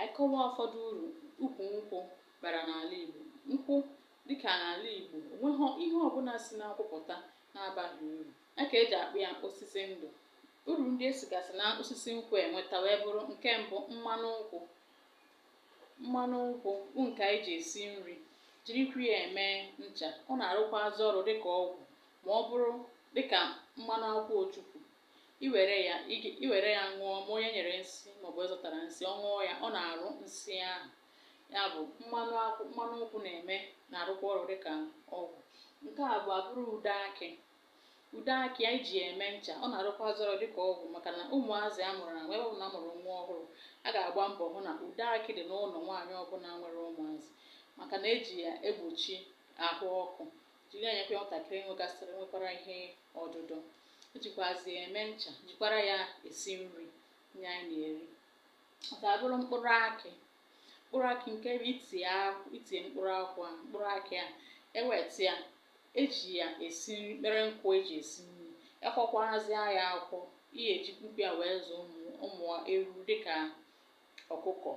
Anyị kọwaa ụfọdụ uru ukwu nkwụ bara n'ala Igbo. Nkwụ dịka n'ala Igbo, o nweghọ ihe ọbụla si n'akwụ pụta na-abaghị uru. Ya ka e ji akpọ ya osisi ndụ. Uru ndị e sigasị na osisi nkwụ enweta wee bụrụ nke mbụ mmanụ nkwụ. Mmanụ nkwụ bụ nke anyị ji esi nri, jirikwa ya eme ncha. Ọ na-arụkwazị ọrụ dịka ọgwụ ma ọ bụrụ dịka mmanụ akwụ ojukwu. i were ya ị ga- i were ya ṅụọ ma onye e nyere nsi maọbụ onye zọtara nsi ọ ṅụọ ya ọ na-arụ nsi ahụ ya bụ mmanụ akwụ mmanụ nkwụ na-eme na-arụkwa ọrụ dịka ọgwụ nke abụọ bụrụ ude akị ude akị anyị ji eme ncha ọ na-arụkwazị ọrụ dịka ọgwụ maka na ụmụazị a mụrụ na nwa ebe ọbụla a mụrụ nwa ọhụrụ a ga-agba mbọ hụ na ude akị dị n'ụlọ nwaanyị ọbụla nwere ụmụazị maka na eji ya egbochi ahụ ọkụ jiri ya enyekwa nwatakịrị nwegasịrị nwekwara ihe ọdụdọ jikwazi ya eme ncha jikwara ya esi nri nye anyị na-eri ọ ga-abụrụ mkpụrụ akị mkpụrụ akị nke bụ itie akwụ itie mkpụrụ akwụ a mkpụrụ akị a eweta ya eji ya esi nri mere nkụ eji esi nri ekwọkwazịa ya akwọ ihe ejikwa ya wee zụ ụmụ ụmụ enunu dịka ọkụkọ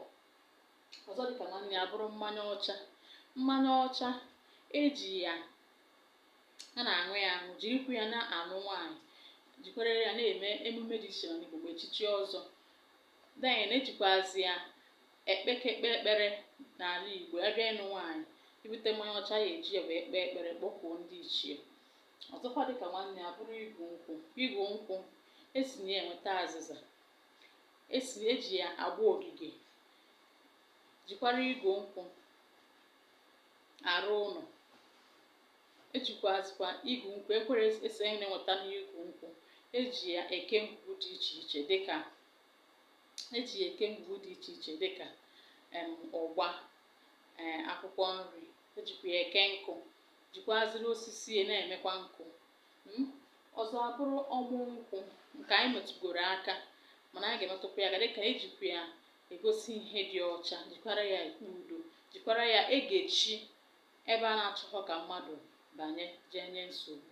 ọzọ dịka nwanne ya bụrụ mmanya ọcha mmanya ọcha eji ya a na-aṅụ ya aṅụ jirikwa ya na-alụ nwaanyị jikwara ya na-eme emume dị iche n'Igbo mgbe echichi ọzọ then ejikwazi ya ekpe ekpe ekpere n'ala Igbo ebe ịnụ nwaanyị ibute mmanya ọcha ya eji ya wee kpee ekpere kpọkuo ndị ichie ọzọkwa dịka nwanne ya bụrụ igu nkwụ igu nkwụ esi na ya enweta azịza esi eji ya agba ogige jikwara igu nkwụ arụ ụlọ ejikwazikwa igu nkwụ ekwere esi anyị na-enweta n'igu nkwụ eji ya eke ngwugwu dị iche iche dịka eji ya eke ngwugwu dị iche iche dịka em ụgba ee akwụkwọ nri ejikwa ya eke nkụ jikwaziri osisi ya na-emekwa nkụ Hmm? ọzọ abụrụ ọmụ nkwụ nke anyị metụgoro aka mana anyị ga-emetụkwa ya aka dịka ejikwa ya egosi ihe dị ọcha jikwara ya ekpe udo jikwara ya egechi ebe a na-achọghọ ka mmadụ banye jee nye nsogbu